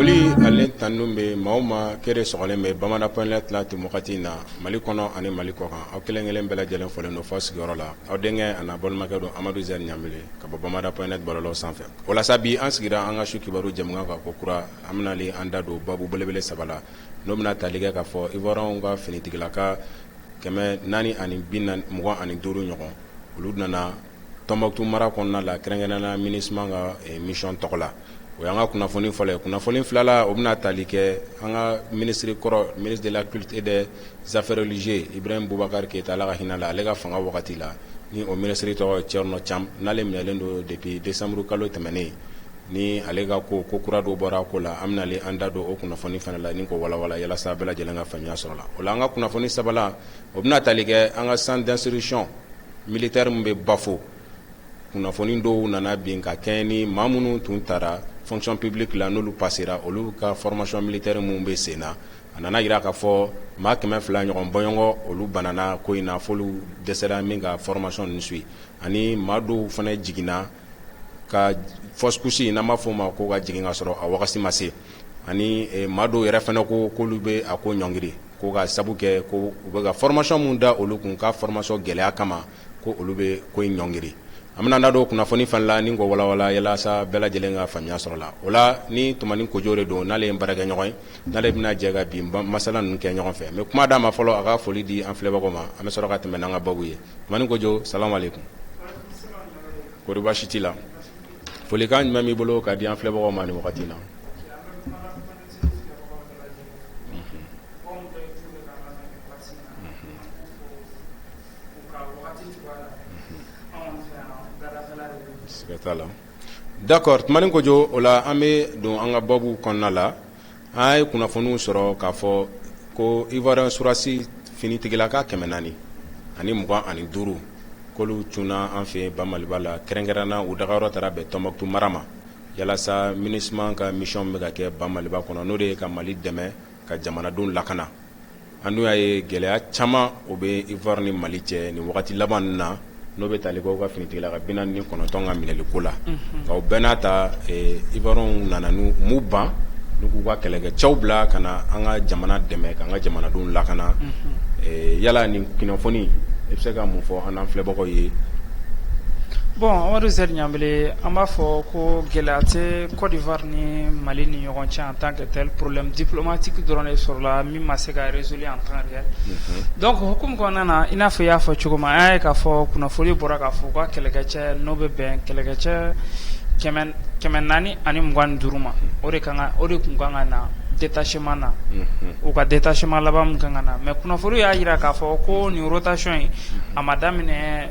foli ani tanu bɛ maa o maa kɛrɛ sɔgɔlen bɛ bamada point net la ten wagati in na mali kɔnɔ ani mali kɔ kan aw kelenkelen bɛɛ lajɛlen folen don fo sigiyɔrɔ la aw denkɛ an'aw balimakɛ don amadu z ɲanbele ka bɔ bamada point net bɔlɔlɔw sanfɛ walasa bi an sigira an ka su kibaru jɛmukan kan ko kura an bɛna an da don baabu belebele saba la n'o bɛna tali kɛ k'a fɔ ivoiriens ka finitigila ka kɛmɛ naani ani bi mugan ani duuru ɲɔgɔn olu nana Tombouctou mara kɔnɔna la kɛrɛnkɛrɛnna MINUSMA ka mission tɔgɔ la o y'an ka kunnafoni fɔlɔ ye kunnafoni filala o bɛna taali kɛ an ka ministre kɔrɔ ministre de la culte et des affaires religieuses ibrahim bubakari keyita ala ka hinɛ a la ale ka fanga wagati la ni o ministre tɔgɔ thierno thiam n'ale minɛlen don depuis desanburu kalo tɛmɛnen ni ale ka ko ko kura dɔ bɔra a ko la an bɛna an da don o kunnafoni fana la ni ko walawala yalasa bɛɛ lajɛlen ka faamuya sɔrɔ la o la an ka kunnafoni sabala o bɛna taali kɛ an ka centre d'instruction Militaire min bɛ bafo kunnafoni dɔw nana bi ka kɛɲɛ ni maa minnu tun taara fonction publique la n'olu pasera olu ka formation militaire min bɛ sen na a nana yira k'a fɔ maa kɛmɛ fila ɲɔgɔn bɔɲɔgɔn olu banana ko in na f'olu dɛsɛra min ka formation nin suivi ani maa dɔw fana jiginna Ka fausse couche n'an b'a fɔ o ma ko ka jigin ka sɔrɔ a wagati ma se ani maa dɔw yɛrɛ fana ko k'olu bɛ a ko ɲɔngiri ko ka sabu kɛ ko u bɛ ka formation min da olu kun ka formation gɛlɛya kama ko olu bɛ ko in ɲɔngiri an bɛna an da don kunnafoni fana la ni ko walawala yalasa bɛɛ lajɛlen ka faamuya sɔrɔ la o la ni tumani kojo de don n'ale ye baarakɛɲɔgɔn ye n'ale bɛna jɛ ka bi masala ninnu kɛ ɲɔgɔn fɛ n bɛ kuma d'a ma fɔlɔ a ka foli di an filɛbagaw ma an bɛ sɔrɔ ka tɛmɛ n'an ka baabu ye tumani kojo salamu aleyikum kɔri baasi t'i la folikan jumɛn b'i bolo ka di an filɛbagaw ma nin wagati in na d'accord tumani kojo o la an bɛ don an ka baabu kɔnɔna la An ye kunnafoniw sɔrɔ k'a fɔ ko ivoirien sɔrɔdasi finitigila ka kɛmɛ naani ani mugan ani duuru k'olu cunna an fɛ ba maliba la kɛrɛnkɛrɛn na u dagayɔrɔ taara bɛn Tombouctou mara ma yalasa MINUSMA ka mission bɛ ka kɛ ba maliba kɔnɔ n'o de ye ka mali dɛmɛ ka jamanadenw lakana An dun y'a ye gɛlɛya caman o bɛ ivoire ni mali cɛ nin wagati laban ninnu na n'o bɛ tali kɛ u ka finitigila ka bi naani ni kɔnɔntɔn ka minɛli ko la nka o bɛɛ n'a ta ivoiriens nana m'u ban n k'u ka kɛlɛkɛ cɛw bila ka na an ka jamana dɛmɛ k'an ka jamanadenw lakana yala nin kunnafoni i bɛ se ka mun fɔ an filɛbagaw ye bon amadu z ɲanbele an b'a fɔ ko gɛlɛya Côte d'Ivoire ni mali ni ɲɔgɔn cɛ en tant que tel problème diplomatique dɔrɔn de sɔrɔla min ma se ka résolu en temps réel donc hukumu kɔnɔna na i n'a fɔ i y'a fɔ cogo min an y'a ye k'a fɔ kunnafoni bɔra k'a fɔ u ka kɛlɛkɛcɛ n'o bɛ bɛn kɛlɛkɛcɛ kɛmɛ naani ani mugan duuru ma o de o de kun kan ka na détachement na u ka détachement laban min kan ka na mais kunnafoni y'a jira k'a fɔ ko nin rotation in a ma daminɛ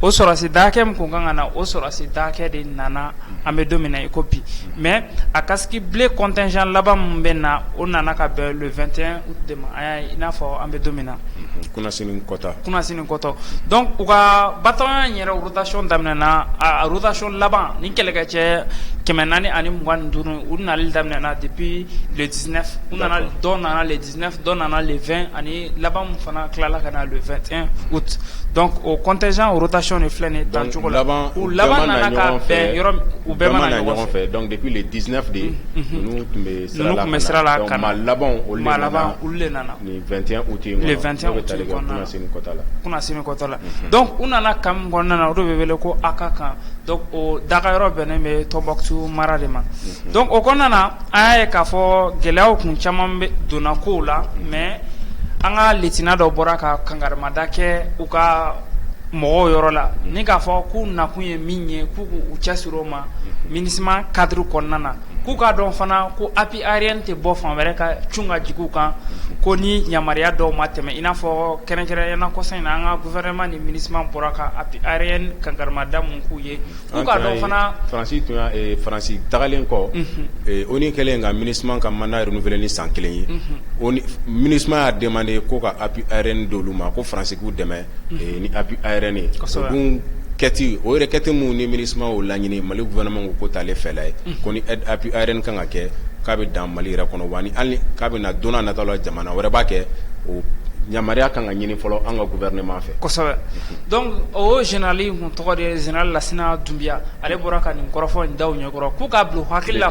o sɔrɔsi dakɛ min tun ka kan na o sɔrɔsi dakɛ de nana an bɛ don i ko bi mɛ a kasi bilen kɔntɛnɛnsan laban min bɛ na o nana ka bɛn 2te i n'a fɔ an bɛ don min na kɔta kɔtɔ dɔn u ka ba yɛrɛ wotacon daminɛɛna na arotacon laban ni kɛlɛkɛ cɛ kɛmɛ naani ani mugan duuru u nana daminɛɛna de bi ladiina u nana dɔn nana ladi dɔ nana le ani laban fana tilala ka na le dɔn o kɔntɛzjan otayɔn de filɛ dancogo laban laban u bɛɛ mana ɲɔgɔn fɛ dɔnku dep de ye tun bɛ sira la ka laban olu nana u tɛta la donc u nana camp min kɔnɔna na o de bɛ wele ko a ka kan donc o dagayɔrɔ bɛnnen bɛ Tombouctou mara de ma donc o kɔnɔna na an y'a ye k'a fɔ gɛlɛyaw kun caman bɛ donna kow la mais an ka lieutenant dɔ bɔra ka kangarimada kɛ u ka mɔgɔw yɔrɔ la ni k'a fɔ k'u nakun ye min ye k'u k'u cɛsiri o ma MINUSMA cadre kɔnɔna na k'u k'a dɔn fana ko Ariyɛn tɛ bɔ fan wɛrɛ ka c ka jugu kan ko ni yamaruya dɔw ma tɛmɛ in n'a fɔ kɛrɛnkɛrɛn ɲɛna kɔsa in an ka gfɛma ni mini bɔra kan a bɛ arareye kan garamada k'u ye fanasi tun faransi tagalen kɔ o ni kɛlen ka mini ka manda yɛrɛ kelen ni san kelen ye mini y'a dɛmɛ de ye ko ka a bɛ re don olu ma ko faransiku dɛmɛ ni appui aérien ye o requête o requête min ni MINUSMA o laɲini mali gouvernement ko o t'ale fɛla ye ko ni aide appui aérien kan ka kɛ k'a bɛ dan mali yɛrɛ kɔnɔ wa hali k'a bɛ na don nata la jamana wɛrɛ b'a kɛ o yamaruya kan ka ɲini fɔlɔ an ka gouvernement fɛ kosɛbɛ donc o général kun tɔgɔ de général lasina dunbiya ale bɔra ka nin kɔrɔfɔ in d'u ɲɛkɔrɔ k'u k'a bila hakili la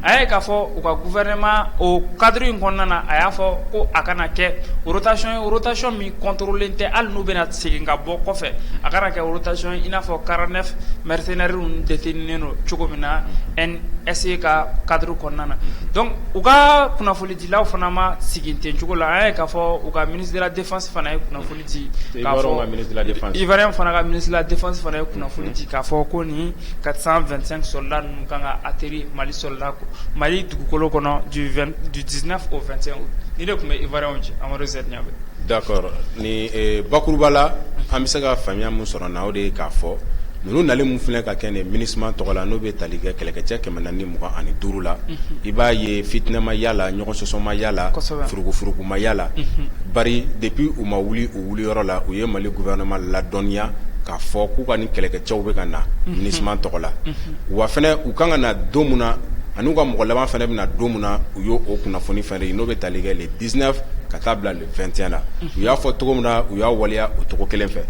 A ye k'a fɔ u ka gouvernement o cadre in kɔnɔna na, a y'a fɔ ko a kana kɛ rotation ye rotation min controlelen tɛ hali n'u bɛna segin ka bɔ kɔfɛ, a kana kɛ rotation ye i n'a fɔ 49 mercenaires ninnu detenu don cogo min na NSE ka cadre kɔnɔna na donc u ka kunnafonidilaw fana ma sigi ten cogo la, an y'a ye k'a fɔ u ka ministre de la defense fana ye kunnafoni Ivoirien fana ka ministre de la defense fana ye kunnafoni di k'a fɔ ko ni 425 soldats ninnu kan ka atterrir mali soldats mali dugukolo kɔnɔ du 19 au 21 août ni de tun bɛ Ivoirienw cɛ amadu z ɲamele d'accord ni bakuruba la an bɛ se ka faamuya min sɔrɔ na o de ye k'a fɔ ninnu nali min filɛ ka kɛ nin Minusma tɔgɔ la tali kɛ kɛlɛkɛcɛ 420 ani duuru la, unhun, i b'a ye fitina ma y'a la, ɲɔgɔn sɔsɔ ma y'a la, kosɛbɛ, furuku furuku ma y'a la, unhun, bari depuis u ma wuli u wuli yɔrɔ la, u ye Mali gouvernement ladɔnniya k'a fɔ k'u ka nin kɛlɛkɛcɛw bɛ ka na Minusma tɔgɔ la, unhun, wa fana u kan ka na don min na an'u ka mɔgɔ laban fana bɛna na don min na u y'o kunnafoni fana di n'o bɛ tali kɛ le 19 ka taa bila 21 la u y'a fɔ cogo min na u y'a waleya o cogo kelen fɛ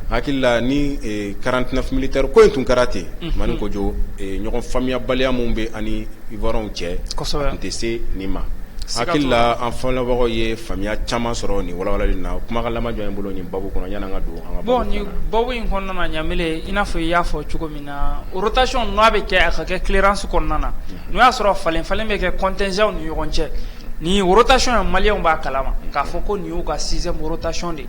hakili la ni 49 militaires ko in tun kɛra ten Tumani Kojo ɲɔgɔn faamuyabaliya min bɛ an ni Ivoirienw cɛ a tun tɛ se nin ma hakili la an filɛbagaw ye faamuyaya caman sɔrɔ ni walawalali na kumakan laban jɔn b'i bolo ni babu kɔnɔ yann'an ka don babu in kɔnɔna na Ɲamele i n'a fɔ i y'a fɔ cogo min na rotation n'a bɛ kɛ a ka kɛ clearance kɔnɔna na n'o y'a sɔrɔ falen falen bɛ kɛ contingentw ni ɲɔgɔn cɛ Nin rotation ye Malienw b'a kalama k'a fɔ ko nin y'u ka sixième rotation de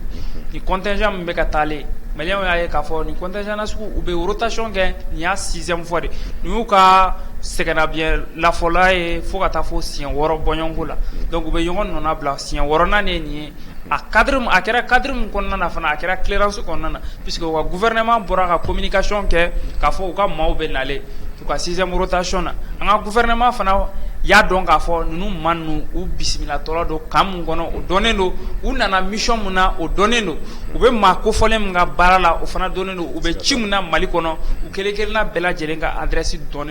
ye contingent min bɛ ka taalen Malienw y'a ye k'a fɔ ni contingent na sugu u bɛ rotation kɛ nin y'a sixième fois de nin y'u ka sɛgɛnnafiɲɛ lafɔla ye fo ka taa fo siɲɛ wɔɔrɔ bɔɲɔgɔnko la donc u bɛ ɲɔgɔn nɔnabila siɲɛ wɔɔrɔnan de nin ye a cadre a kɛra cadre min kɔnɔna na fana a kɛra clearance kɔnɔna na puisque u ka gouvernement bɔra ka communication kɛ k'a fɔ u ka maaw bɛ nalen u ka sixième rotation na an ka gouvernement fana y'a dɔn k'a fɔ ninnu maa ninnu u bisimilatɔla don camp min kɔnɔ o dɔnnen don u nana mission min na o dɔnnen don u bɛ maa kofɔlen min ka baara la o fana dɔnnen don u bɛ ci min na mali kɔnɔ u kelen kelenna bɛɛ lajɛlen ka adresse dɔn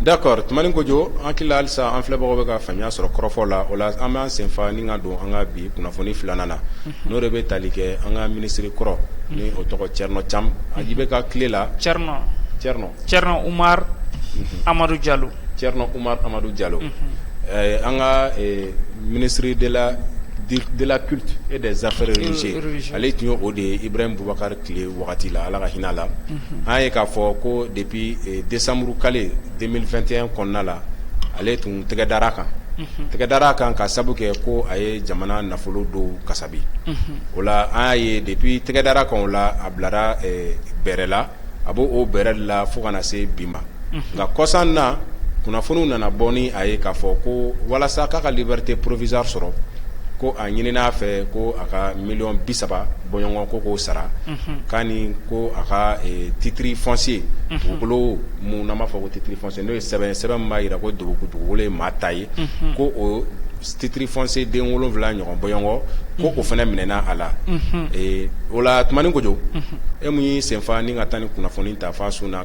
d'accord Tumani Kojo an hakili la halisa an filɛbagaw bɛ ka faamuya sɔrɔ kɔrɔfɔ la o la an b'an sen fa ni ka don an ka bi kunnafoni filanan na n'o de bɛ tali kɛ an ka minisiri kɔrɔ ni o tɔgɔ cɛrinɔ caman aji bɛ ka tile la cɛrinɔ umari amadu jalo cɛrinɔ umari amadu jalo an ka ministre de la culte et des affaires religieuses ale tun ye o de ye ibrahim bubakari tile wagati la ala ka hinɛ la an y'a ye k'a fɔ ko depuis desanburu kalo 2021 kɔnɔna la ale tun tɛgɛ dara a kan tɛgɛ dara a kan k'a sabu kɛ ko a ye jamana nafolo dɔw kasabi o la an y'a ye depuis tɛgɛ dara a kan o la a bilara bɛrɛ la a b'o bɛrɛ la fo ka na se bi ma nka kɔsa in na kunnafoniw nana bɔ ni a ye k'a fɔ ko walasa k'a ka liberté provisoire sɔrɔ ko a ɲinin'a fɛ ko a ka miliyɔn bi saba bɔɲɔgɔn ko k'o sara k'a ni ko a ka titre foncier dugukolo min n'an b'a fɔ ko titre foncier n'o ye sɛbɛn ye sɛbɛn min b'a jira ko dugukolo ye maa ta ye ko o titre foncier den wolonwula ɲɔgɔn bɔɲɔgɔn ko o fana minɛna a la o la Tumani Kojo e min y'i senfa ni ka taa nin kunnafoni ta fo a sun na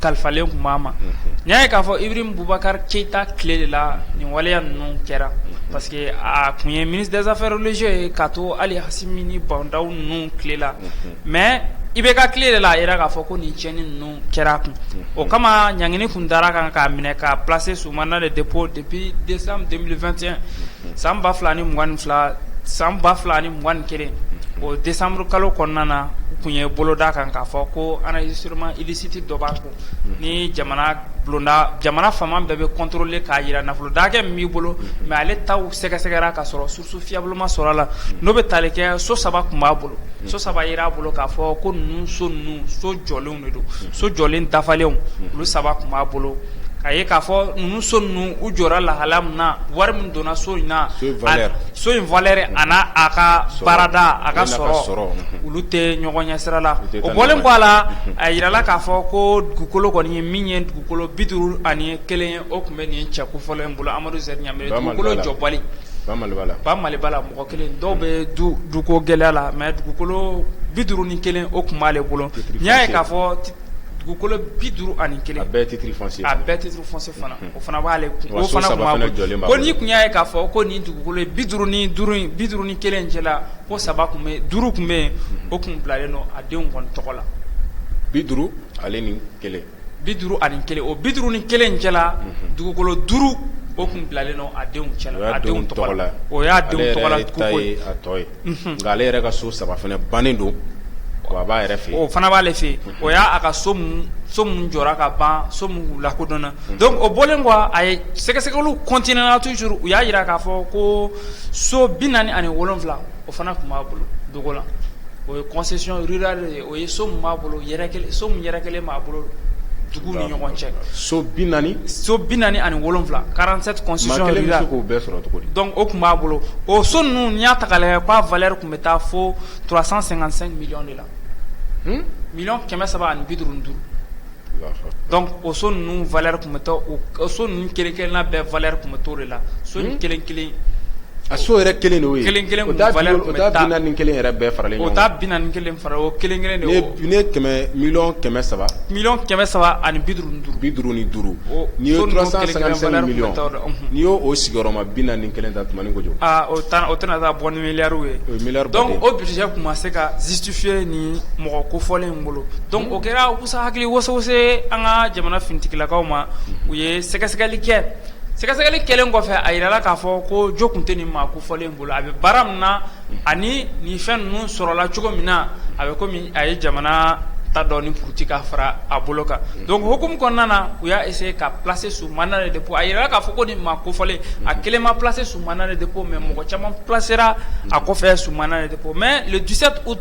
kalifalen tun b'a ma n'i y'a ye k'a fɔ Ibrahim Bubakari Keyita tile de la nin waleya ninnu kɛra parce que a tun ye ministre des affaires religieuses ye ka to hali Hasimi ni Ba Ndaw ninnu tile la mais IBK tile de la a jira k'a fɔ ko nin tiɲɛni ninnu kɛra kun o kama ɲangini tun dara a kan k'a minɛ k'a placer sous mandat de dépôt depuis décembre deux mille vingt et un San ba fila ni mugan ni fila san ba fila ni mugan ni kelen o desanburukalo kɔnɔna na u tun ye bolo d'a kan k'a fɔ ko enrichissement illicite dɔ b'a kun ni jamana bulonda jamana faama bɛɛ bɛ contrôler k'a jira nafolo dakɛ min b'i bolo mais ale taw sɛgɛsɛgɛra ka sɔrɔ source fiable ma sɔrɔ a la n'o bɛ taali kɛ so saba tun b'a bolo so saba jira a bolo k'a fɔ ko ninnu so ninnu so jɔlenw so jɔlen dafalenw olu saba tun b'a bolo k'a ye k'a fɔ ninnu so ninnu u jɔra lahala min na wari min donna so in na so in valeur a n'a ka baarada a ka sɔrɔ olu tɛ ɲɔgɔn ɲɛ sira la o bɔlen kɔ a la a jirala k'a fɔ ko dugukolo kɔni ye min ye dugukolo bi duuru ani kelen ye O tun bɛ nin cɛ kofɔlen in bolo Amadu Sɛri Ɲanbele dugukolo jɔbali ba Maliba la mɔgɔ kelen dɔw bɛ duko gɛlɛya la mais dugukolo bi duuru ni kelen o tun b'ale bolo n'i y'a ye k'a fɔ dugukolo bi duuru ani kelen bɛɛ titre a bɛɛ titre foncier fana o fana b'ale ko n'i tun y'a ye k'a fɔ ko nin dugukolo bi duuru ni duuru in bi duuru ni kelen in cɛ la ko saba tun bɛ duuru tun bɛ yen o tun bilalen don a denw kɔni tɔgɔ la bi duuru ale ni kelen bi duuru ani kelen o bi duuru ni kelen cɛ la dugukolo duuru o tun bilalen don a denw cɛ la o y'a nka ale yɛrɛ ka so saba bannen don a b'a yɛrɛ fɛ o fana b'ale fɛ o y'a ka so min so min jɔra ka ban so min lakodɔnna donc o bɔlen kɔ a ye sɛgɛsɛgɛliw continuéna toujours u y'a jira k'a fɔ ko so bi naani ani wolonwula o fana tun b'a bolo dogo la o ye kɔnsi O ye so min b'a bolo so min yɛrɛ kelen b'a bolo dugu ni ɲɔgɔn cɛ so bi naani so bi naani ani wolowula quarante-sept k'o bɛɛ sɔrɔ cogo di dɔnku o tun b'a bolo o so ninnu n'i y'a ta k'a lajɛ k'a valeur tun bɛ taa fo trois cent cinquante-cinq millions de la miliyɔn kɛmɛ saba ani bi duuru ni duuru o so ninnu valeur tun bɛ taa so ninnu kelen kelen na bɛɛ valeur tun bɛ t'o de la so ni kelen kelen a so yɛrɛ kelen de kelen kelen bi naani ni kelen yɛrɛ bɛɛ faralen ɲɔgɔn kan o taa bi naani ni kelen fara o kelen kelen de kɛmɛ miliyɔn kɛmɛ saba miliyɔn kɛmɛ saba ani bi duuru ni duuru bi duuru ni duuru n'i ye trois cent cinquante-cinq millions n'i y'o sigiyɔrɔma bi naani ni kelen ta Tumani Kojo o tɛna taa bɔ ni miliyari ye o budget tun ma se ka justifier ni mɔgɔ ko fɔlen dɔnku o kɛra usa hakili woso se an ka jamana finitigilakaw ma u ye sɛgɛsɛgɛli kɛ sɛgɛsɛgɛli kɛlen kɔfɛ a jirala k'a fɔ ko jo tun tɛ nin maa ko fɔlen bolo a bɛ baara min na ani nin fɛn ninnu sɔrɔla cogo min na a bɛ komi a ye jamana ta dɔn ni futa ka fara a bolo kan dɔnku hukumu kɔnɔna na u y'a essayer k'a placer sous mandat de dépôt a jirala k'a fɔ ko ni maa ko fɔlen a kelen ma placer sous mandat de dépôt mɛ mɔgɔ caman placera a kɔfɛ sous mandat de O mɛ le dix-sept août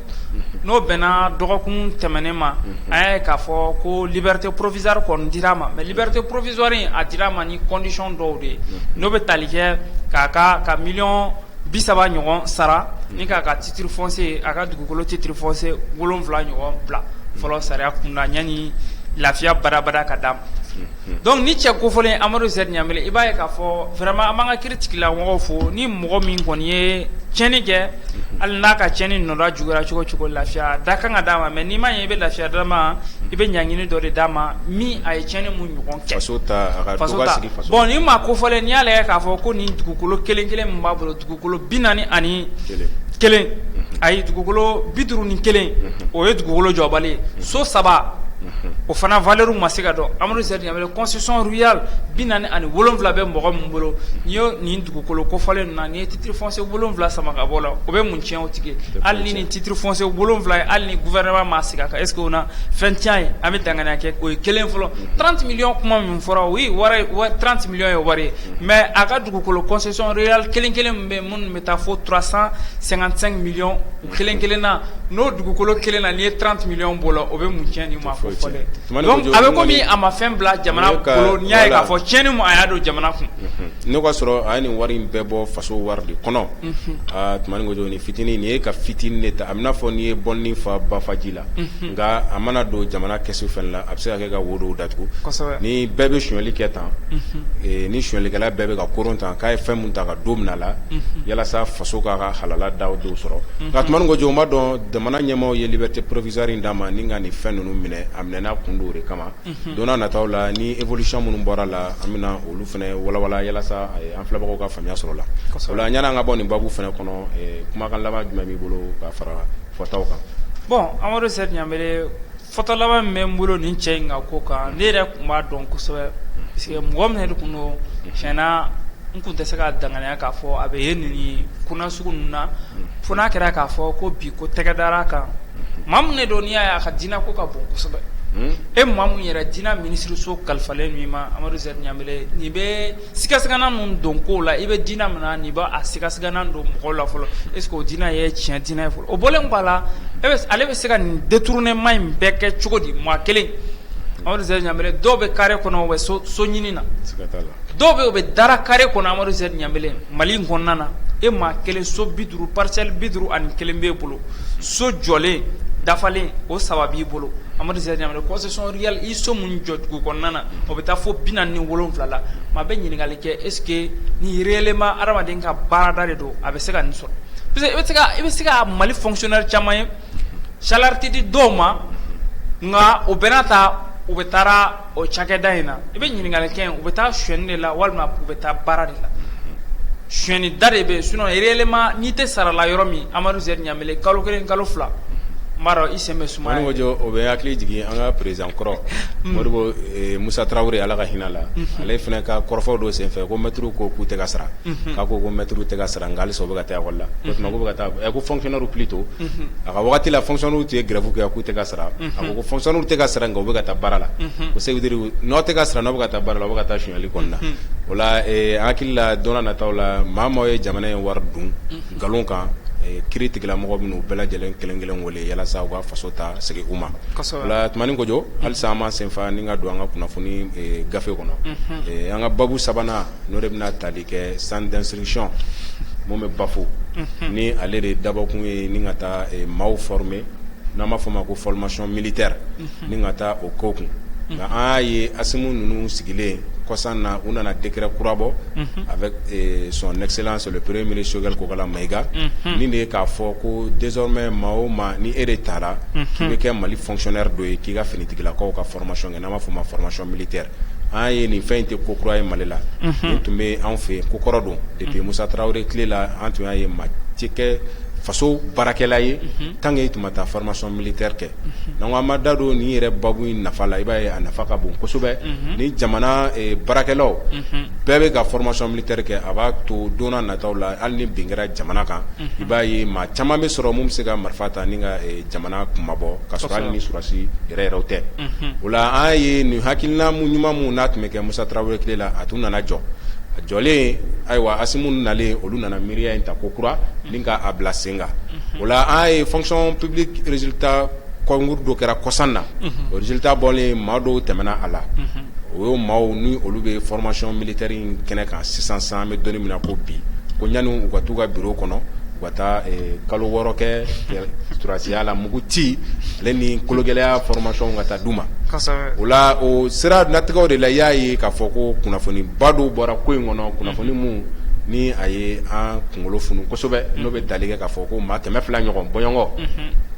n'o bɛnna dɔgɔkun tɛmɛnen ma an y'a ye k'a fɔ ko liberté provisoire kɔni dira a ma mɛ liberté provisoire a dira a ma ni condition dɔw de ye n'o bɛ tali kɛ k'a ka ka miliyɔn bi saba ɲɔgɔn sara ni k'a ka titre foncier a ka dugukolo titre foncier wolonwula ɲɔgɔn bila fɔlɔ sariya kunda yanni lafiya badabada ka d'a ma Dɔnku ni cɛ ko fɔlen Amadu Zɛri Ɲanbele i b'a ye k'a fɔ vraiment an b'an ka kiiritigɛla mɔgɔw fo ni mɔgɔ min kɔni ye tiɲɛni kɛ hali n'a ka tiɲɛni nɔ juguyara cogo cogo lafiya de ka kan ka d'a ma mɛ n'i ma ye i bɛ lafiya d'a ma i bɛ ɲangini dɔ de d'a ma min a ye tiɲɛni mun ɲɔgɔn kɛ bon ni maa ko fɔlen n'i y'a lajɛ k'a fɔ ko nin dugukolo kelen kelen min b'a bolo dugukolo bi naani ani kelen ayi dugukolo bi duuru ni kelen o ye dugukolo jɔbali ye so saba o fana valeur ma se ka dɔn Amadu Zɛri Ɲanbele concession rurale bi naani ani wolowula bɛ mɔgɔ minnu bolo n'i ye nin dugukolo kofɔlen na n'i ye titre foncier wolonwula sama ka bɔ la o bɛ mun cɛn o tigi hali ni nin titre foncier wolonwula ye hali ni gouvernement ma sigi a kan est-ce que o na fɛn cɛn ye an bɛ danya kɛ o ye kelen fɔlɔ trente millions kuma min fɔra o ye trente millions ye wari ye mɛ a ka dugukolo concession rurale kelen kelen bɛ minnu bɛ taa fo trois cent cinquante-cinq millions Kelen kelen na n'o dugukolo kelen na n'i ye trente millions bɔ la o bɛ mun cɛn n'i ma fɔ a bɛ komi a ma fɛn bila jamana bolo n'i y'a ye k'a fɔ tiɲɛni mun a y'a don jamana kun ne k'a sɔrɔ a ye nin wari in bɛɛ bɔ faso wari de kɔnɔ aa Tumani Kojo nin fitinin nin ye ka fitinin de ta a bɛna fɔ n'i ye bɔnnin fa bafaji la nka a mana don jamana kɛsu fana la a bɛ se ka kɛ ka wo dɔw ni bɛɛ bɛ sonyɛli kɛ tan ni sonyɛlikɛla bɛɛ bɛ ka koron tan k'a ye fɛn mun ta ka don min la walasa faso k'a ka halala da dɔw sɔrɔ nka Tumani Kojo o ma dɔn jamana ɲɛmaaw ye liberté provisoire d'a ma ni ka nin fɛn ninnu minɛ a minɛna kun don o de kama don nataw la ni évolution minnu bɔra la an bɛna olu fana walawala walasa an filɛbagaw ka faamuya sɔrɔ la o la yan'an ka bɔ nin babu fana kɔnɔ kumakan laban jumɛn b'i bolo ka fara fɔtaw kan bon Amadu Zɛri Fɔta laban min bɛ n bolo nin cɛ in ka ko kan ne yɛrɛ tun b'a dɔn kosɛbɛ parce que mɔgɔ min de tun don tiɲɛna n tun tɛ se ka danganiya k'a fɔ a bɛ ye nin ko nasugu ninnu na fo n'a kɛra k'a fɔ ko bi ko tɛgɛ dara a kan maa min de don n'i y'a ye a ka diinɛ ko ka bon kosɛbɛ e maa min yɛrɛ diinɛ minisiriso kalifalen min ma Amadu Zɛri Ɲanbele nin bɛ Sigasigana ninnu don kow la i bɛ diinɛ min na nin b'a sigasigana don mɔgɔw la fɔlɔ est ce que o diinɛ ye tiɲɛ diinɛ ye fɔlɔ o bɔlen kɔ a la e bɛ se ale bɛ se ka nin détournement in bɛɛ kɛ cogo di maa kelen Amadu Zɛri Ɲanbele dɔw bɛ carré kɔnɔ u bɛ so so ɲini na siga t'a la dɔw bɛ yen u bɛ dara carré kɔnɔ Amadu Zɛri Ɲanbele Mali in kɔnɔna na e maa kelen so 50 parcelle 51 b'e bolo so jɔlen dafalen o 3 b'i bolo Amadu Zɛri Ɲanbele concession rurale i so min jɔ dugu kɔnɔna na o bɛ taa fo bi naani ni wolonwula la maa bɛ ɲininkali kɛ est ce que ni réellement hadamaden ka baarada de don a bɛ se ka nin sɔrɔ i bɛ se ka mali fonctionnaire caman ye salaire tɛ di dɔw ma nka o bɛɛ n'a ta u bɛ taa o cakɛda in na i bɛ ɲininkali kɛ u bɛ taa sonyɛni de la walima u bɛ taa baara de la sonyɛni da de bɛ sinon réellement n'i tɛ sara la yɔrɔ min Amadu Zɛri Ɲanbele kalo kelen kalo fila b'a dɔn i sen bɛ suma Tumani Kojo o bɛ hakili jigin an ka perez an kɔrɔ modibo musa tarawele ala ka hinɛ a la ale fana ka kɔrɔfɔ dɔ senfɛ ko mɛtiriw ko k'u tɛ ka sara k'a ko ko mɛtiriw tɛ ka sara nka halisa u bɛ ka taa école la bɛ ka taa a ko fonctionnaire plutôt a ka waati la fonctionnairew tun ye grève kɛ k'u tɛ ka sara a ko fonctionnairew tɛ ka sara u bɛ ka taa baara la ko ça veut dire n'u tɛ ka sara n'u bɛ ka taa baara la u bɛ ka taa sonyɛli kɔnɔna na o la an hakili la don nataw la maaw ye jamana in wari dun nkalon kan k'o tigilamɔgɔ ninnu bɛɛ lajɛlen kelen kelen yalasa u ka faso ta segin u ma o la Tumani Kojo halisa an ma senfa ni ka don an ka kunnafoni gafe kɔnɔ an ka babu sabanan n'o de bɛna tali kɛ centre d'instruction min bɛ Bafo ni ale de dabɔkun ye ni ka taa maaw former n'an b'a fɔ o ma ko formation militaire Ni ka taa o ko kun nka an y'a ye Asimu ninnu sigilen kɔsan na u nana décret kura bɔ avec son excellence le premier ministre Choguel Kokala Maïga nin de ye k'a fɔ ko désormais maa o maa ni e de taara k'i bɛ kɛ mali fonctionnaire dɔ ye k'i ka finitigilakaw ka formation kɛ n'an b'a fɔ o ma formation militaire an ye nin fɛn in tɛ ko kura ye mali la nin tun bɛ anw fɛ yen ko kɔrɔ don depuis musa tarawele tile la an tun y'a ye maa tɛ kɛ faso baarakɛla ye tant que i tun ma taa formation militaire kɛ nka an ma da don nin yɛrɛ babu in nafa la i b'a ye a nafa ka bon kosɛbɛ ni jamana baarakɛlaw bɛɛ bɛ ka formation militaire kɛ a b'a to don nataw la hali ni bin kɛra jamana kan i b'a ye maa caman bɛ sɔrɔ min bɛ se ka marifa ta ni ka jamana kunmabɔ ka sɔrɔ hali ni sɔrasi yɛrɛ yɛrɛ tɛ o la an ye nin hakilina ɲuman min n'a tun bɛ kɛ musa tarawele tile la a tun nana jɔ a jɔlen ayiwa asimiw nalen olu nana miiriya in ta ko kura a bila sen kan o la an ye fonction publique résultat concours dɔ kɛra kɔsan na o résultat bɔlen maa dɔw tɛmɛna a la o ye maaw ni olu bɛ formation militaire in kɛnɛ kan sisan sa an bɛ don in min na ko bi ko yanni u ka taa u ka bureau kɔnɔ u ka taa kalo wɔɔrɔ kɛ sɔrɔdasiya la mugu ci ale ni kologɛlɛya formation ka taa di u ma o la o sira natigɛ de la y'a ye k'a fɔ ko kunnafoniba dɔw bɔra ko in kɔnɔ kunnafoni minnu ni a ye an kunkolo funu kosɛbɛ n'o bɛ tali kɛ k'a fɔ ko maa kɛmɛ fila ɲɔgɔn bɔɲɔgɔnko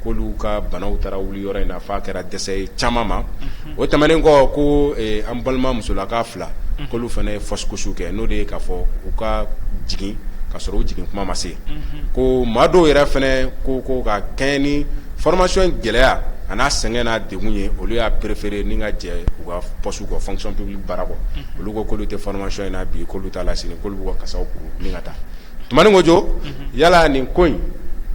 k'olu ka banaw taara wuli yɔrɔ in na f'a kɛra dɛsɛ ye caman ma o tɛmɛnen kɔ ko an balima musolaka fila k'olu fana ye fausse couche kɛ n'o de ye k'a fɔ u ka jigin ka sɔrɔ u jigin kuma ma se ko maa dɔw yɛrɛ fana ko ko ka kɛɲɛ ni formation in gɛlɛya a n'a sɛgɛn n'a degun ye olu y'a préféré ni ka jɛ u ka poste kɔ fonction publique baara kɔ olu ko k'olu tɛ formation in na bi k'olu t'a la sini k'olu b'u ka kasa tumaninjɔ yala nin ko in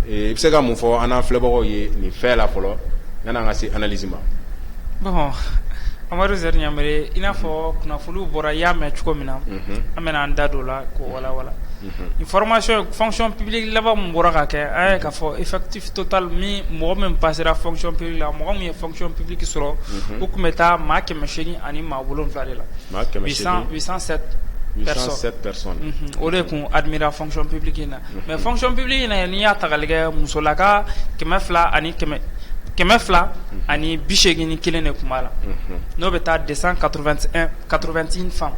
i bɛ se ka mun fɔ an n'an filɛbagaw ye nin fɛn la fɔlɔ yan'an ka se analyse ma bon amadu zɛri ɲanbele i n'a fɔ kunnafoniw bɔra i y'a mɛn cogo min na an bɛna an da don o la k'o walawala formation fonction publique laban min bɔra ka kɛ a ye k'a fɔ effectif total min mɔgɔ min passera fonction publique la mɔgɔ min ye fonction publique sɔrɔ u tun bɛ taa maa kɛ kɛmɛ seegin ani maa wolon wolonwula de la o de tun admira fonction publique in na mais fonction publique in na n'i y'a ta k'a lajɛ musolaka kɛmɛ fila ani kɛmɛ fila ani bi seegin ni kelen de tun b'a la n'o bɛ taa deux cent quatre-vingt-un femmes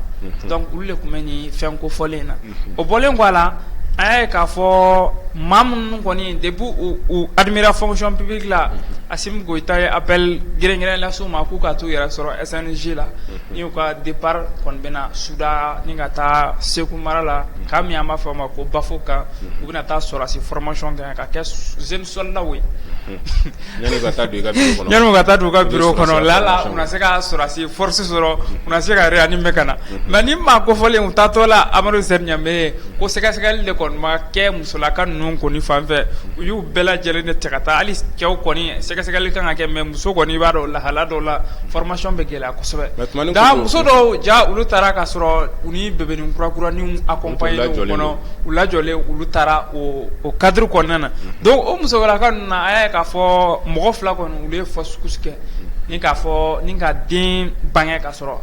donc olu de tun bɛ nin fɛn kofɔlen in na o bɔlen kɔ a la an y'a ye k'a fɔ maa minnu kɔni depuis u admira fonction publique la Asimi Goyita ye appel gɛrɛnkɛrɛn lase u ma k'u ka t'u yɛrɛ sɔrɔ SNJ la n'u ka départ kɔni bɛna sudaa ni ka taa Segu mara la camp min an b'a fɔ a ma ko Bafo k'u bɛna taa sɔrasi formation kɛ yen ka kɛ jeunes soldats ye yan'u ka taa don i ka bureau kɔnɔ yan'u ka taa don u ka bureau kɔnɔ lala u na se ka sɔrasi force sɔrɔ u na se ka réanimer ka na mais nin maa kofɔlenw taatɔla Amadu Zɛri Ɲanbele ko sɛgɛsɛgɛli de kɔni ma kɛ musolaka ninnu kɔni fan fɛ u y'u bɛɛ lajɛlen de cɛ ka taa hali cɛw kɔni sɛgɛsɛgɛli kan ka kɛ mais muso kɔni i b'a dɔn lahala dɔw la formation bɛ gɛlɛya kosɛbɛ nka muso dɔw ja olu taara ka sɔrɔ u ni bebenin kurakuraninw accompagné u kɔnɔ u lajɔlen olu taara o cadre kɔnɔna na donc o musolaka ninnu na a y'a ye k'a fɔ mɔgɔ fila kɔni olu ye fausse couche kɛ ni k'a fɔ ni ka den bange ka sɔrɔ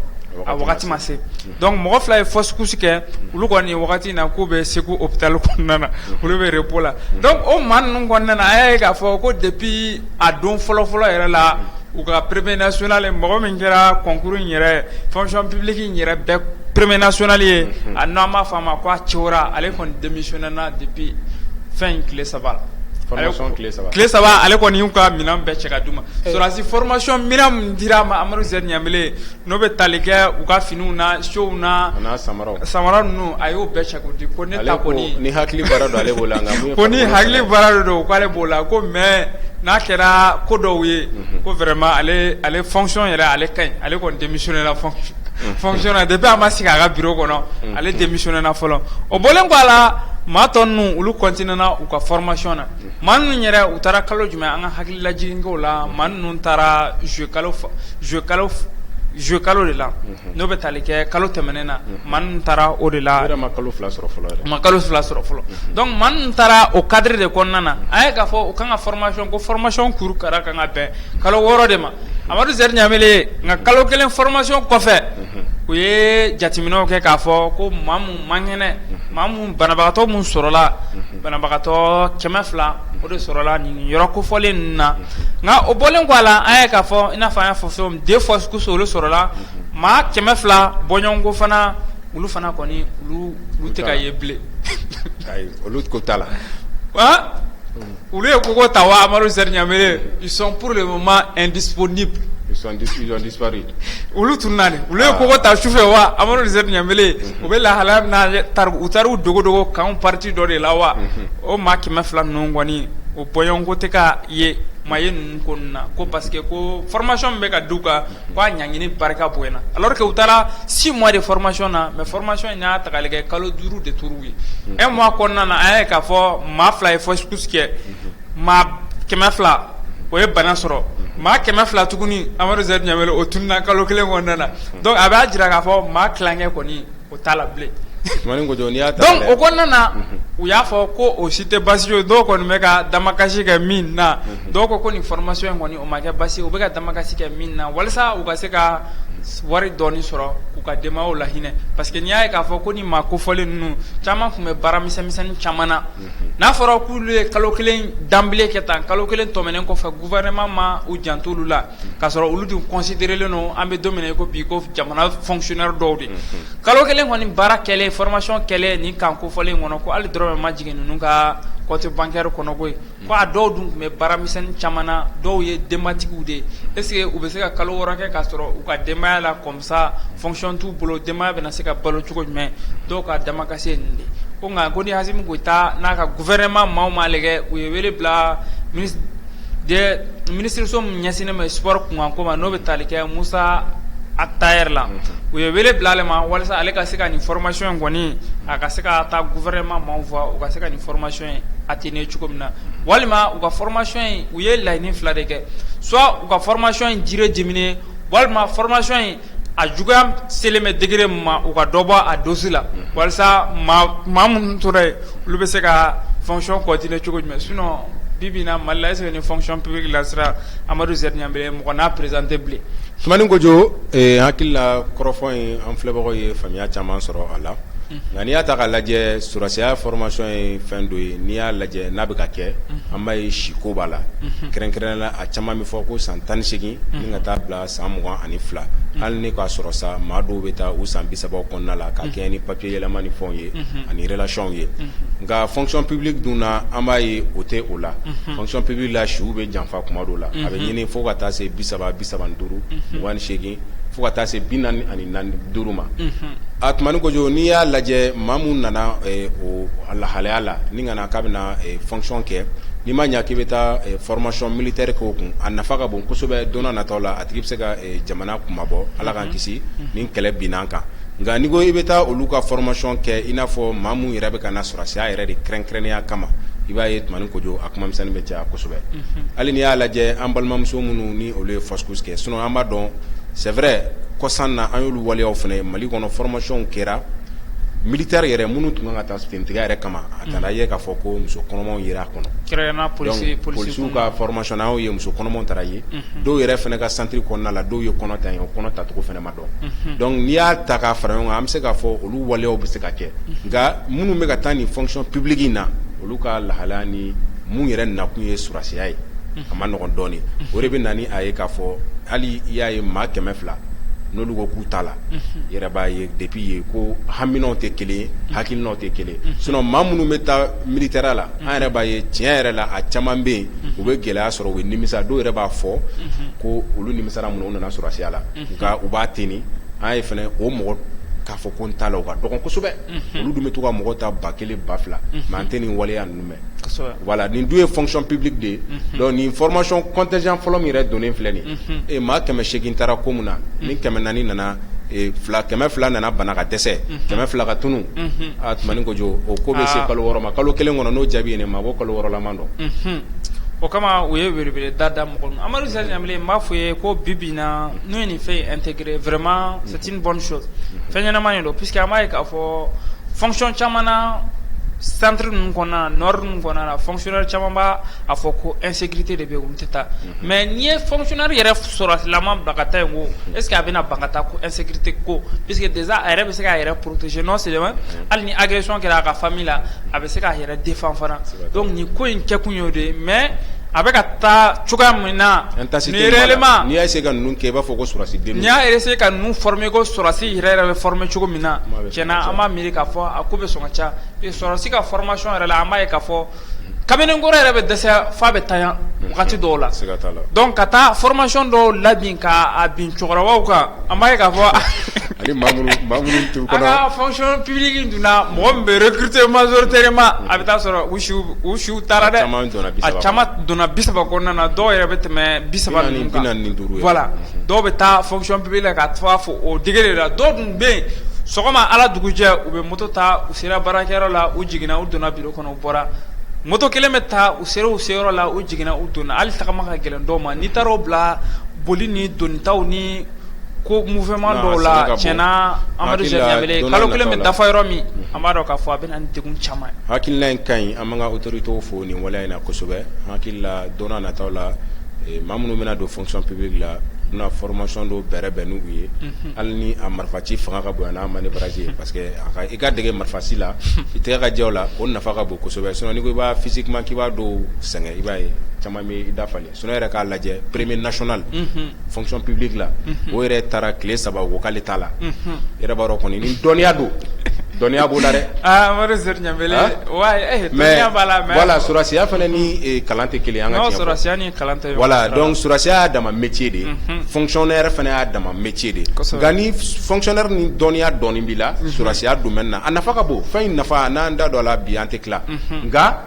a wagati ma se Donc mɔgɔ fila ye fausse couche kɛ olu kɔni nin wagati in na k'u bɛ segu hôpital kɔnɔna na olu bɛ repos la donc o maa ninnu kɔnɔna na a y'a ye k'a fɔ ko depuis a don fɔlɔfɔlɔ yɛrɛ la u ka premier national mɔgɔ min kɛra concours in yɛrɛ fonction publique yɛrɛ bɛɛ premier national ye a n'an b'a fɔ a ma ko a Cera ale kɔni démissionnéna depuis fɛn in tile saba la tile saba ale kɔni y'u ka minɛn bɛɛ cɛ ka d'u ma sɔrɔdasi formation minɛn min dira a ma amadu ɲab N'o bɛ tali kɛ u ka finiw na siyow na samara ninnu a y'o bɛɛ cɛ k'o di ko ne ta kɔni ni hakili baara don ale b'o la ko ni hakili baara don k'ale b'o la ko mais n'a kɛra ko dɔw ye ko vraiment ale fonction yɛrɛ ale ka ɲi ale kɔni démissionnéna fonction na depuis a ma sigi a ka bureau kɔnɔ ale démissionnéna fɔlɔ o bɔlen kɔ a la maa tɔ ninnu olu continuéna u ka formation na Maa ninnu yɛrɛ u taara kalo jumɛn an ka hakili lajigin ko la maa ninnu taara juillet kalo de la n'o bɛ taali kɛ kalo tɛmɛnen na maa ninnu taara o de la ma kalo fila sɔrɔ fɔlɔ ma kalo fila sɔrɔ fɔlɔ donc maa ninnu taara o cadre de kɔnɔna na an ye k'a fɔ u ka kan ka formation ko formation kuru kara ka kan ka bɛn kalo wɔɔrɔ de ma amadu z ɲanbele nka kalo kelen formation kɔfɛ u ye jateminɛw kɛ k'a fɔ ko ma man kɛnɛ maa min banabagatɔ min sɔrɔla banabagatɔ kɛmɛ fila o de sɔrɔla nin yɔrɔ kofɔlen ninnu na nka o bɔlen kɔ a la an ye k'a fɔ i n'a fɔ an y'a fɔ c'est deux fausses couches olu sɔrɔla maa kɛmɛ fila bɔɲɔgɔnko fana olu fana kɔni olu tɛ ka ye bilen olu ko t' la Olu ye kogo ta wa amadu z ɲanbele ils sont pour le moment indisponibles olu tununna de olu ye kogo ta sufɛ wa amadu z ɲanbele u bɛ lahala min na u taara u dogodogo kan partie dɔ de la wa o maa kɛmɛ fila ninnu kɔni o bɔɲɔgɔnko tɛ ka ye maa ye ninnu kɔnɔna ko parce que ko formation min bɛ ka d'u kan ko a ɲangini barika bonyana alors que u taara 6 mois de formation na mais formation in y'a ta k'a lajɛ kalo 5 de tora u ye un mois kɔnɔna na an y'a ye k'a fɔ maa 2 ye fausse-couche kɛ maa 200 o ye bana sɔrɔ maa 200 tuguni Amadu Zɛri Ɲanbele o tununna kalo 1 kɔnɔna na donc a b'a jira k'a fɔ maa tilankɛ kɔni O t'a la bilen donc o kɔnɔna na u y'a fɔ ko o si tɛ basi ye dɔw kɔni bɛ ka damakasi kɛ min na dɔw ko ko nin formation in kɔni o ma kɛ basi u bɛ ka damakasi kɛ min na walasa u ka se ka wari dɔɔni sɔrɔ k'u ka denbaya lahinɛ parce que n'i y'a ye k'a fɔ ko ni maa kofɔlen ninnu caman tun bɛ baara misɛnmisɛn caman na n'a fɔra k'olu ye kalo kelen danbile kɛ tan kalo kelen tɛmɛnen kɔfɛ gouvernement ma u janto olu la k'a sɔrɔ olu dun considérélen don an bɛ don min na i ko bi ko jamana fonctionnaire dɔw de kalo kelen kɔni baara kɛlen formation kɛlen nin camp kofɔlen kɔnɔ ko hali dɔrɔmɛ ma jigin ninnu ka compte bancaire kɔnɔ koyi ko a dɔw dun tun bɛ baara misɛnnin caman na dɔw ye denbatigiw de est-ce que u bɛ se ka kalo wɔɔrɔ kɛ k'a sɔrɔ u ka denbaya la Ça fonction t'u bolo denbaya bɛna se ka balo cogo jumɛn dɔw ka damakasi ye nin de ko nka ko ni assimi goïta n'a ka gouvernement maaw m'a lajɛ u ye wele bila minisiriso min ɲɛsinnen bɛ sport kunkanko ma n'o bɛ tali kɛ musa ag attaher la u ye wele bila ale ma walasa ale ka se ka nin formation in kɔni a ka se ka taa gouvernement maaw voir u ka se ka nin formation in atténuer cogo min na walima u ka formation in u ye laɲini fila de kɛ soit u ka formation in durée diminuer walima formation in a juguya selen bɛ degré min ma u ka dɔ bɔ a dose la walasa maa minnu tora yen olu bɛ se ka fonction continuer cogo jumɛn sinon bi-bi in na mali la est-ce que ni fonction publique lancéra amadu z ɲanbele mɔgɔ na présenter bilen tumani kojo hakili la kɔrɔfɔ in an filɛbagaw ye faamuya caman sɔrɔ a la nka n'i y'a ta k'a lajɛ sɔrɔsiya formation ye fɛn dɔ ye n'i y'a lajɛ n'a bɛ ka kɛ an b'a ye si ko b'a la kɛrɛnkɛrɛnnenya la a caman bɛ fɔ ko san tan ni seegin ni ka taa bila san mugan ani fila hali ni k'a sɔrɔ sa maa dɔw bɛ taa u san bi saba kɔnɔna la ka kɛɲɛ ni papier yɛlɛma ni fɛnw ye ani relation ye nka fonction publique dun na an b'a ye o tɛ o la fonction publique la siw bɛ janfa tuma dɔw la a bɛ ɲini fo ka taa se bi saba bi saba ni duuru mugan ni seegin. fo ka taa se bi naani ani duuru ma a tumani kojo n'i y'a lajɛ maa min nana o lahalaya la ni ka na k'a bɛna fonction kɛ n'i ma ɲɛ k'i bɛ taa formation militaire kɛ o kun a nafa ka bon kosɛbɛ don nataw la a tigi bɛ se ka jamana kunmabɔ ala k'an kisi ni kɛlɛ binna an kan Nka n'i ko i bɛ taa olu ka formation kɛ i n'a fɔ maa minnu yɛrɛ bɛ ka na sɔrɔsiya yɛrɛ de kɛrɛnkɛrɛnnenya kama i b'a ye tumani kojo a kuma misɛn bɛ caya kosɛbɛ hali n'i y'a lajɛ an balimamuso minnu ni olu ye fausse couche kɛ sinon an b'a dɔn c'est vrai kɔsan na an y'olu waleyaw fana ye mali kɔnɔ formationw kɛra militaire yɛrɛ minnu tun kan ka taa finitigiya yɛrɛ kama a taara ye k'a fɔ ko muso kɔnɔmaw yera a kɔnɔ polisiw ka formation na yen muso kɔnɔmaw taara yen dɔw yɛrɛ fana ka centre kɔnɔna la dɔw ye kɔnɔ ta yen o kɔnɔ tacogo fana ma dɔn n'i y'a ta k'a fara ɲɔgɔn kan an bɛ se k'a fɔ olu waleyaw bɛ se ka kɛ nka minnu bɛ ka taa nin fonction publique in na olu ka lahalaya ni minnu yɛrɛ nakun ye sɔrɔsiya ye a man nɔgɔn dɔɔnin o de bɛ na n'a ye k'a fɔ hali i y'a ye maa kɛmɛ fila n'olu ko k'u t'a la yɛrɛ b'a ye depuis yen ko haminaw tɛ kelen ye hakilinaw tɛ kelen sinon maa minnu bɛ taa militaire la an yɛrɛ b'a ye tiɲɛ yɛrɛ la a caman bɛ yen u bɛ gɛlɛya sɔrɔ u bɛ nimisa dɔw yɛrɛ b'a fɔ ko olu nimisara mun na u nana sɔrɔsiya la nka u b'a ten an ye fana o mɔgɔ k'a fɔ ko n t'a la u ka dɔgɔn kosɛbɛ olu dun bɛ to ka mɔgɔ ta ba kelen ba fila mais an tɛ nin waleya ninnu mɛn voilà nin dun ye fonction publique de ye donc nin formation contingent fɔlɔ min yɛrɛ donnen filɛ nin ye maa kɛmɛ segin taara ko min na ni kɛmɛ naani nana kɛmɛ fila nana bana ka dɛsɛ kɛmɛ fila ka tunun aa tuma ni ko jɔ o ko bɛ se kalo wɔɔrɔ ma kalo kelen kɔnɔ n'o jaabi ɲini maa ko kalo wɔɔrɔlaman donc o kama u ye welewele da mɔgɔ ma Amadu Zer Ɲambele n b'a fɔ ye ko bibi Na n'u ye nin fɛn in intégré vraiment c'est une bonne chose unhun, fɛn ɲɛnama de don puisque an b'a ye k'a fɔ fonction caman na centre ninnu kɔnɔna na nord ninnu kɔnɔna na fonctionnaire caman b'a a fɔ ko insécurité de bɛ yen olu tɛ taa, unhun, mais n'i ye fonctionnaire yɛrɛ sɔrɔdasilaman bila ka taa yen ko est ce que a bɛna ban ka taa ko insécurité ko puisque déjà a yɛrɛ bɛ se k'a yɛrɛ protéger non seulement unhun, hali ni agression kɛra a ka famille la a bɛ se k'a yɛrɛ défend fana, siga t'a la, donc nin ko in kɛkun ye o de ye mais A bɛ ka taa cogoya min na ni réellement n'i y'a essayer ka ninnu kɛ i b'a fɔ ko sɔrɔsi den n'i y'a essayer ka ninnu former ko sɔrɔsi yɛrɛ yɛrɛ bɛ former cogo min na tiɲɛna an b'a miiri k'a fɔ a ko bɛ sɔn ka ca sɔrɔsi ka formation yɛrɛ la an b'a ye k'a fɔ kamalenkɔrɔ yɛrɛ bɛ dɛsɛ f'a bɛ tanya wagati dɔw la donc ka taa formation dɔw labin k'a bin cɛkɔrɔbaw kan an b'a ye k'a fɔ Ani maa minnu maa minnu tun an kɔnɔ ka fonction publique in dunna mɔgɔ min bɛ recruter majoritairement a bɛ taa sɔrɔ u siw u siw taara dɛ, a caman donna 30 kɔnɔ, a caman donna 30 kɔnɔna na dɔw yɛrɛ bɛ tɛmɛ 30 ninnu kan, 45 ye, voilà dɔw bɛ taa fonction publique la ka taa fo o degré la, dɔw dun bɛ yen sɔgɔma Ala dugujɛ u bɛ moto ta u sera baarakɛyɔrɔ la u jiginna u donna bureau kɔnɔ u bɔra moto kelen bɛ ta u sera u seyɔrɔ la u jiginna u donna hali tagama ka gɛlɛn dɔw ma n'i taara o bila boli ni donnitaw ni ko mouvement dɔw la tiɲɛna amadu kalo kelen bɛ dafa yɔrɔ min an b'a dɔn k'a fɔ a bɛ na ni degun caman ye hakilila in ka ɲi an b'an ka autorités fo nin waleya in na kosɛbɛ an hakili la don nataw la maa minnu bɛna don fonction publique la u na formation dɔw bɛrɛ bɛn n'u ye hali ni a marifaci fanga ka bon n'a manœuvrage ye parce que i ka dege marifaci la i tɛgɛ ka jɛ a la o nafa ka bon kosɛbɛ sinon i b'a physiquement k'i b'a dɔw sɛgɛn i b'a ye caman bɛ i dafa Sinon yɛrɛ k'a lajɛ premier national fonction publique la o yɛrɛ taara tile saba o ko k'ale t'a la yɛrɛ b'a dɔn kɔni ni dɔnniya don dɔnniya b'o la dɛ mais voilà sɔrɔsiya fana ni kalan tɛ kelen an ka tiɲɛ fɔ voilà donc sɔrɔsiya y'a dama métier de fonctionnaire fana y'a dama métier de nka ni fonctionnaire ni dɔnniya dɔɔnin b'i la sɔrɔsiya domaine na a nafa ka bon fɛn in nafa n'an da don a la bi an tɛ tila nka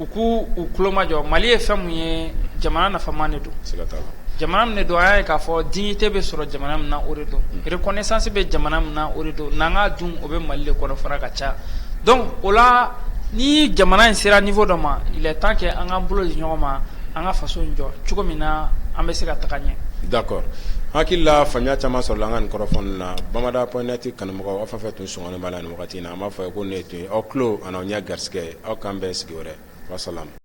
u ko u tulomajɔ mali ye fɛn min ye jamana nafama de don jamana min de don an y'a ye k'a fɔ dignité bɛ sɔrɔ jamana min na o de don reconnaissance bɛ jamana min na o de don n'an ka dun o bɛ mali de kɔnɔ fana ka ca donc o la ni jamana in sera niveau dɔ ma il est temps que an k'an bolo di ɲɔgɔn ma an ka faso in jɔ cogo min na an bɛ se ka taga ɲɛ d'accord hakili la faamuya caman sɔrɔla an ka nin kɔrɔfɔ in na bamada point net kanubagaw fɛn fɛn tun sɔn b'a la nin wagati na an b'a fɔ aw ye ko nin tun ye aw tulo ani aw ɲɛ garisɛgɛ ye aw k'an bɛn sigi wɛrɛ wasalamu